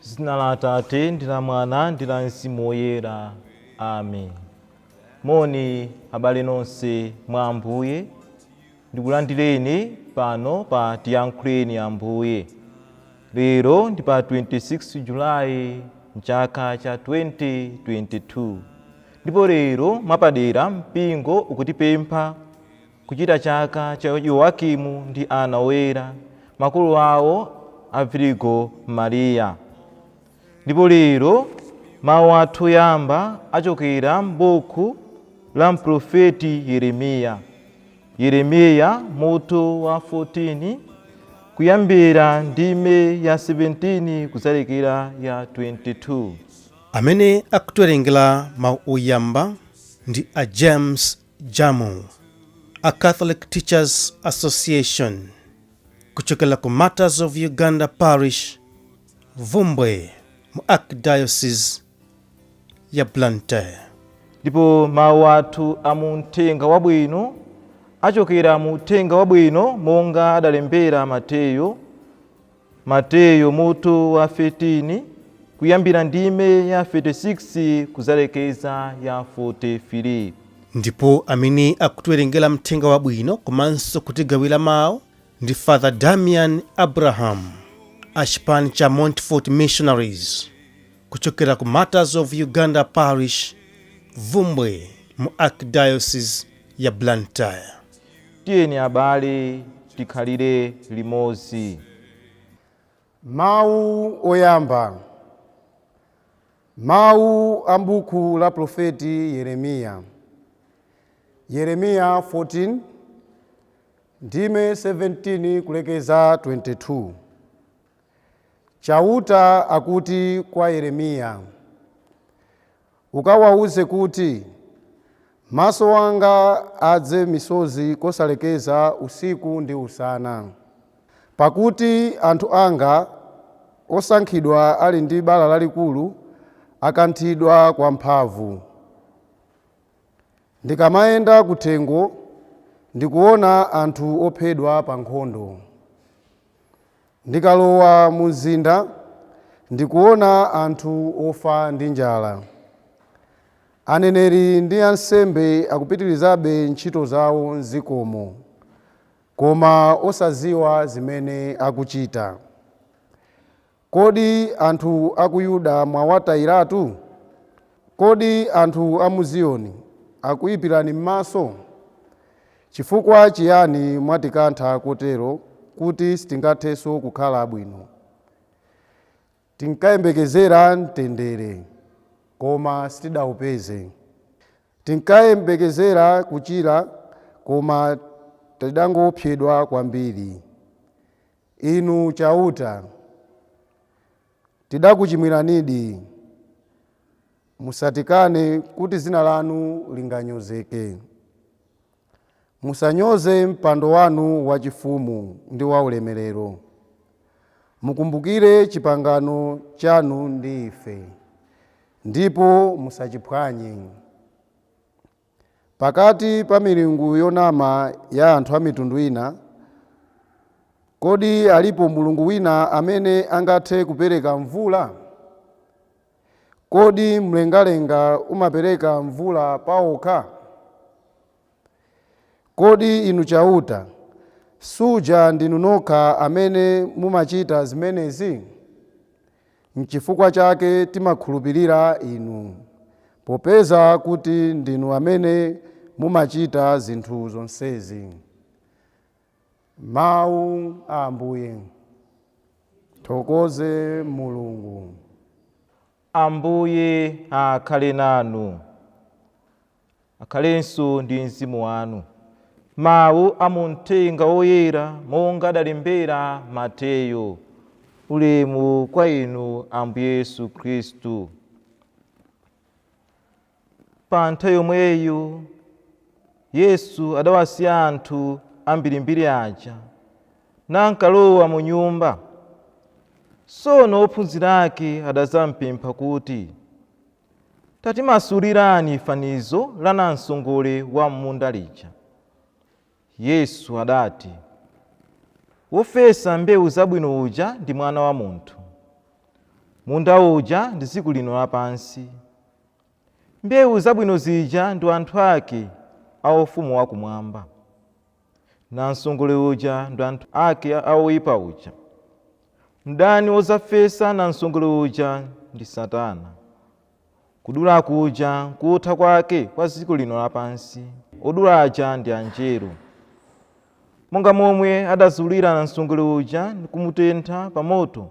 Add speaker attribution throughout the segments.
Speaker 1: zina la atate
Speaker 2: ndi la mwana ndi la mzimu woyera amen moni abale nonse mwa ambuye ndikulandireni pano pa tiyankhuleni ambuye lero ndi pa 26 julayi mchaka cha 2022 ndipo lero mwapadera mpingo ukutipempha Kuchita chaka cha Yoakimu ndi Anna Oyera, makolo awo a Virigo Mariya. Ndipo lero mawu athu oyamba achokera m'buku la mprofeti Yeremiya. Yeremiya mutu wa 14 kuyambira ndime ya 17 kudzalekera ya 22. Amene
Speaker 3: akutiwerengera mawu oyamba ndi a James Jamu, a Catholic Teachers Association, kuchokera ku Martyrs of Uganda Parish, Bvumbwe, mu Archdiocese ya Blantyre.
Speaker 2: Ndipo mawu athu a mu Uthenga Wabwino achokera mu Uthenga Wabwino monga adalembera Mateyu. Mateyu mutu wa 13 kuyambira ndime ya 36 kuzalekeza ya 43. ndipo
Speaker 3: amene akutiwerengera mthenga wabwino komanso kutigawira mawu ndi father damian abraham a chipani cha montfort missionaries kuchokera ku martyrs of uganda parish bvumbwe mu archdiocese ya blantyre Tiyeni
Speaker 2: abale, tikhalire limodzi. Mawu
Speaker 4: Oyamba Mawu a m'buku la Profeti Yeremiya Yeremiya 14, ndime 17 kulekeza 22 Chauta akuti kwa Yeremiya, Ukawauze kuti, Maso anga adze misozi kosalekeza usiku ndi usana, pakuti anthu anga osankhidwa ali ndi bala lalikulu, akanthidwa kwamphamvu. Ndikamayenda kuthengo, ndikuona anthu ophedwa pankhondo. Ndikalowa mumzinda, ndikuona anthu ofa ndi njala. Aneneri ndi ansembe akupitirizabe ntchito zawo m'dzikomo, koma osadziwa zimene akuchita. Kodi anthu a ku Yuda mwawatayiratu? Kodi anthu a mu Ziyoni akuipirani m'maso? Chifukwa chiyani mwatikantha kotero kuti sitingathenso kukhala abwino? Tinkayembekezera mtendere, koma sitidaupeze. Tinkayembekezera kuchira, koma tidangoopsedwa kwambiri. Inu Chauta! Tidakuchimwiranidi. Musatikane kuti dzina lanu linganyozeke. Musanyoze mpando wanu wachifumu ndi waulemerero. Mukumbukire chipangano chanu ndi ife, ndipo musachiphwanye. Pakati pa milungu yonama ya anthu a mitundu ina, kodi alipo mulungu wina amene angathe kupereka mvula? Kodi mlengalenga umapereka mvula pawokha? Kodi Inu Chauta, suja ndinu nokha amene mumachita zimenezi? N'chifukwa chake timakhulupirira Inu, popeza kuti ndinu amene mumachita zinthu zonsezi. Mawu a Ambuye. Tithokoze Mulungu. Ambuye
Speaker 2: akhale nanu. Akhalenso ndi mzimu wanu. Mawu a mu Mthenga Woyera monga adalembera Mateyo. Ulemu kwa Inu Ambuye Yesu Khristu. Pa nthawi yomweyo Yesu adawasiya anthu ambirimbiri aja, nankalowa mu nyumba. Tsono ophunzira ake adadzampempha kuti, Tatimasulirani fanizo la nansongole wa m'munda lija. Yesu adati, Wofesa mbewu zabwino uja ndi Mwana wa Munthu. Munda uja ndi dziko lino lapansi. Mbewu zabwino zija ndi anthu ake a Ufumu wakumwamba. Nansongole uja ndi anthu ake a woipa uja. Mdani wodzafesa nansongole uja ndi Satana. Kudula kuja nkutha kwake kwa dziko lino lapansi, odula aja ndi Anjelo. Monga momwe adazulira nansongole uja ndi kumutentha pa moto,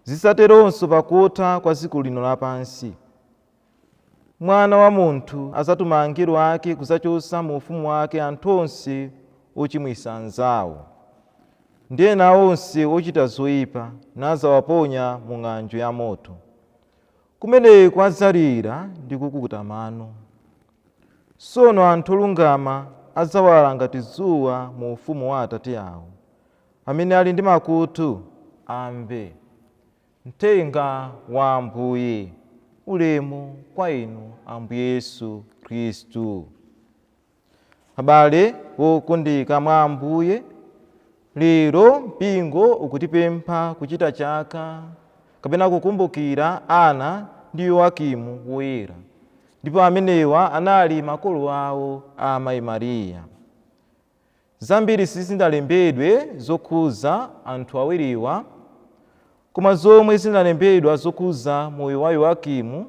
Speaker 2: zidzateronso pakutha kwa dziko lino lapansi. Mwana wa munthu adzatuma angelo ake kudzachotsa mu ufumu wake anthu onse ochimwitsa anzawo, ndi ena onse ochita zoipa, nadzawaponya mu ng'anjo ya moto. Kumeneko adzalira ndi kukukuta mano. Tsono anthu olungama adzawala ngati dzuwa mu ufumu wa Atate awo. Amene ali ndi makutu, amve. Mthenga wa Ambuye. Ulemu kwa Inu, Ambuye Yesu Kristu. Abale wokondeka mwa Ambuye, lero mpingo ukutipempha kuchita chaka kapena kukumbukira Anna ndi Yoakimu Woyera, ndipo amenewa anali makolo awo a Amayi Maria. Zambiri sizinalembedwe zokhudza anthu awiriwa, koma zomwe zinalembedwa zokhudza moyo wa Yoakimu,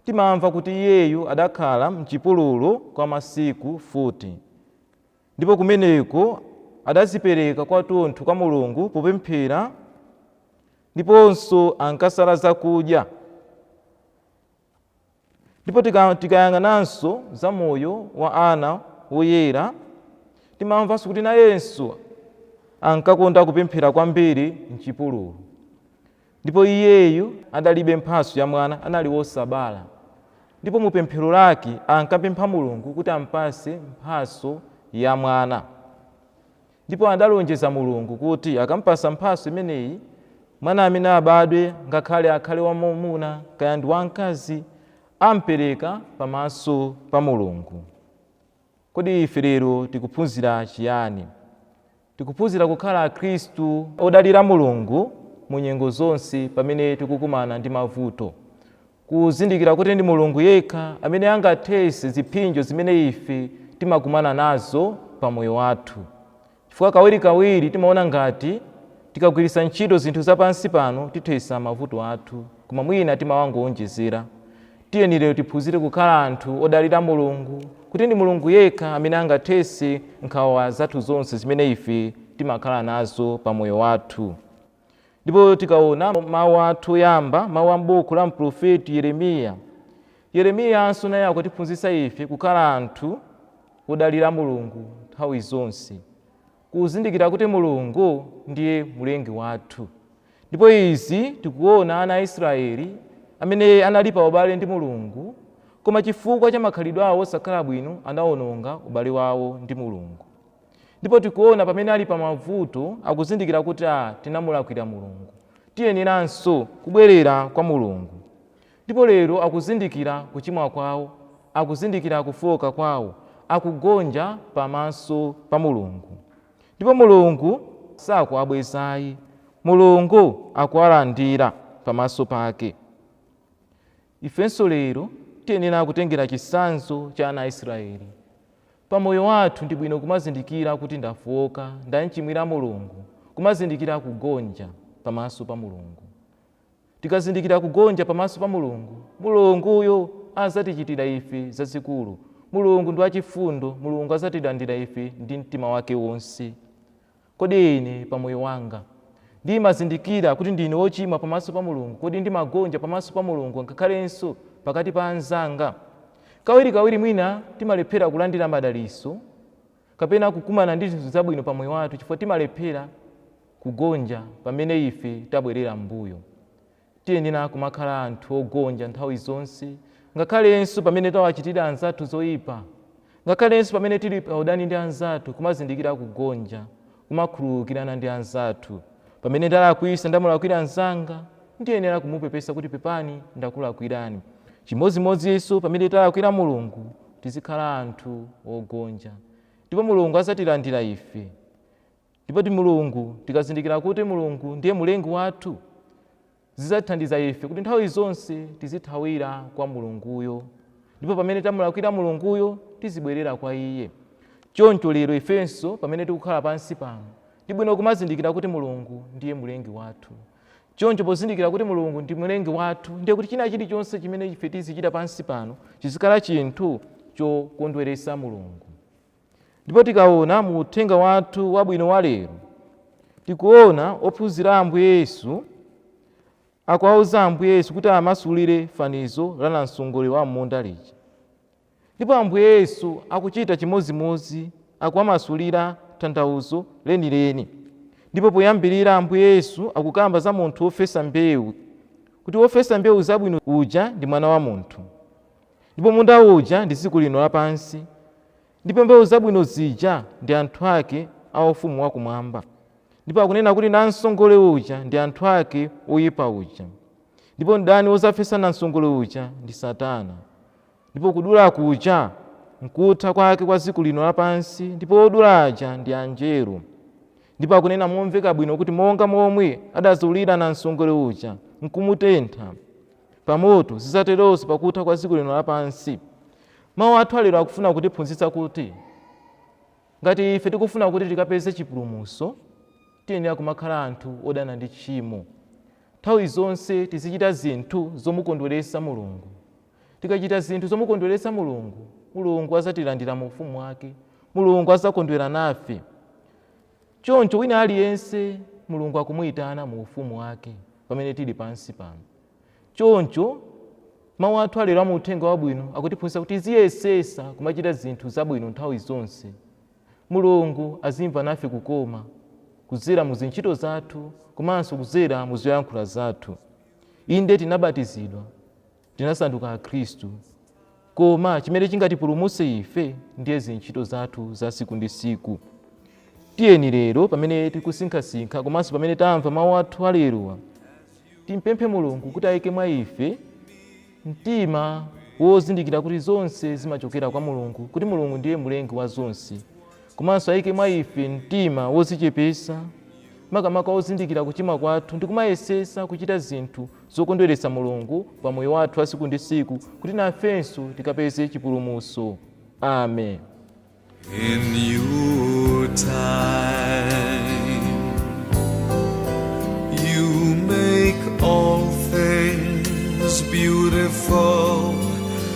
Speaker 2: timamva kuti iyeyu adakhala m'chipululu kwa masiku 40, ndipo kumeneko adadzipereka kwathunthu kwa Mulungu popemphera, ndiponso ankasala zakudya. Ndipo tikayang'ananso za moyo wa Anna Woyera, timamvanso kuti nayenso ankakonda kupemphera kwambiri m'chipululu. Ndipo iyeyu adalibe mphatso ya mwana, anali wosabala. Ndipo mu pemphero lake ankapempha Mulungu kuti ampatse mphatso ya mwana. Ndipo adalonjeza Mulungu kuti akampatsa mphatso imeneyi, mwana amene abadwe, ngakhale akhale wamwamuna kaya ndi wamkazi, ampereka pamaso pa Mulungu. Kodi ife lero tikuphunzira chiyani? Tikuphunzira kukhala Akhristu odalira Mulungu mu nyengo zonse pamene tikukumana ndi mavuto. Kuzindikira kuti ndi Mulungu yekha amene angathetse ziphinjo zimene ife timakumana nazo pa moyo wathu. Chifukwa kawirikawiri timaona ngati tikagwiritsa ntchito zinthu za pansi pano tithetsa mavuto athu koma mwina timawangoonjezera. Tiyeni lero tiphunzire kukhala anthu odalira Mulungu kuti ndi Mulungu yekha amene angathetse nkhawa zathu zonse zimene ife timakhala nazo pa moyo wathu. ndipo tikaona mawu athu oyamba mawu a m'buku la mprofeti yeremiya yeremiyanso naye akutiphunzitsa ife kukhala anthu odalira mulungu nthawi zonse kuzindikira kuti mulungu ndiye mlengi wathu ndipo izi tikuona ana a israeli amene anali pa ubale ndi mulungu koma chifukwa cha makhalidwe awo osakhala bwino anaononga ubale wawo ndi mulungu Ndipo tikuona pamene ali pa mavuto akuzindikira kuti a tinamulakwira Mulungu. Tiyeneranso kubwerera kwa Mulungu. Ndipo lero akuzindikira kuchimwa kwawo, akuzindikira kufooka kwawo, akugonja pamaso pa Mulungu. Ndipo Mulungu sakuwabweza ayi, Mulungu akuwalandira pamaso pake. Ifenso lero tiyenera kutengera chitsanzo cha ana a Israeli. Pa moyo wathu ndi bwino kumazindikira kuti ndafooka, ndamchimwira Mulungu, kumazindikira kugonja pamaso pa Mulungu. Tikazindikira kugonja pamaso pa Mulungu, Mulunguyo azatichitira ife zazikulu. Mulungu ndi wachifundo, Mulungu azatilandira ife ndi mtima wake wonse. Kodi ine, pa moyo wanga, ndimazindikira kuti ndine wochimwa pamaso pa Mulungu? Kodi ndimagonja pamaso pa Mulungu ngakhalenso pakati pa anzanga? Kawirikawiri mwina timalephera kulandira madalitso kapena kukumana ndi zinthu zabwino pa moyo wathu chifukwa timalephera kugonja pamene ife tabwerera m'mbuyo. Tiyenera kumakhala anthu ogonja nthawi zonse, ngakhalenso pamene tawachitira anzathu zoipa. Ngakhalenso pamene tili paudani ndi anzathu, kumazindikira kugonja, kumakhululukirana ndi anzathu. Pamene ndalakwisa, ndamulakwira mnzanga, ndiyenera kumupepesa kuti pepani ndakulakwirani. Chimodzimodzinso pamene talakwira Mulungu, tizikhala anthu ogonja. Ndipo Mulungu azatilandira ife. Ndipo Mulungu, tikazindikira kuti Mulungu ndiye Mulengi wathu, zizatithandiza ife kuti nthawi zonse tizithawira kwa Mulunguyo, ndipo pamene tamulakwira Mulunguyo tizibwerera kwa iye. Choncho lero ifenso pamene tikukhala pansi pano, ndi bwino kumazindikira kuti Mulungu ndiye Mulengi wathu. Choncho pozindikira kuti Mulungu ndi Mulengi wathu, ndiye kuti china chilichonse chimene ife tizichita pansi pano chizikhala chinthu chokondweretsa Mulungu. ndipo tikaona mu uthenga wathu wabwino wa lero tikuona ophunzira a ambuye yesu akuwauza ambuye yesu kuti amasulire fanizo la namsongole wa m'munda lija ndipo ambuye yesu akuchita chimodzimodzi akuwamasulira tanthauzo lenileni ndipo poyambirira ambuye yesu akukamba za munthu wofesa mbewu kuti wofesa mbewu zabwino uja ndi mwana wa munthu Ndipo munda uja ndi dziko lino lapansi, ndipo mbewu zabwino zija ndi anthu ake a ufumu wa kumwamba. Ndipo akunena kuti namsongole uja ndi anthu ake a woyipa uja. Ndipo mdani wozafesa namsongole uja ndi Satana. Ndipo kudula kuja nkutha kwake kwa dziko lino lapansi, ndipo odula aja ndi anjelo. Ndipo akunena momveka bwino kuti monga momwe adazulira namsongole uja nkumutentha, pa moto. Zidzateronso pa kutha kwa dziko lino lapansi. Mawu athu alero akufuna kutiphunzitsa kuti ngati ife tikufuna kuti tikapeze chipulumutso, tiyenera kumakhala anthu odana ndi tchimo. Nthawi zonse tizichita zinthu zomukondweretsa Mulungu. Tikachita zinthu zomukondweretsa Mulungu, Mulungu adzatilandira mu ufumu wake. Mulungu adzakondwera nafe. Choncho wina aliyense Mulungu akumuyitana mu ufumu wake pamene tili pansi pano. Choncho mawu athu alero mu uthenga wabwino akutiphunzitsa kuti tiziyesesa kumachita zinthu zabwino nthawi zonse. Mulungu azimva nafe kukoma kudzera mu zintchito zathu komanso kudzera mu zoyankhula zathu. Inde tinabatizidwa. tinasanduka Akhristu. Koma chimene chingatipulumutse ife ndiye zintchito zathu za tsiku ndi tsiku. Tiyeni lero pamene tikusinkhasinkha komanso pamene tamva mawu athu alerowa, timpemphe Mulungu kuti ayike mwa ife mtima wozindikira kuti zonse zimachokera kwa Mulungu, kuti Mulungu ndiye mlengi wa zonse. Komanso aike mwa ife mtima wodzichepetsa, makamaka wozindikira kuchimwa kwathu ndi kumayesetsa kuchita zinthu zokondweretsa Mulungu pa moyo wathu wa tsiku ndi tsiku kuti nafenso tikapeze chipulumutso.
Speaker 1: Amen. in your time. You make all things beautiful.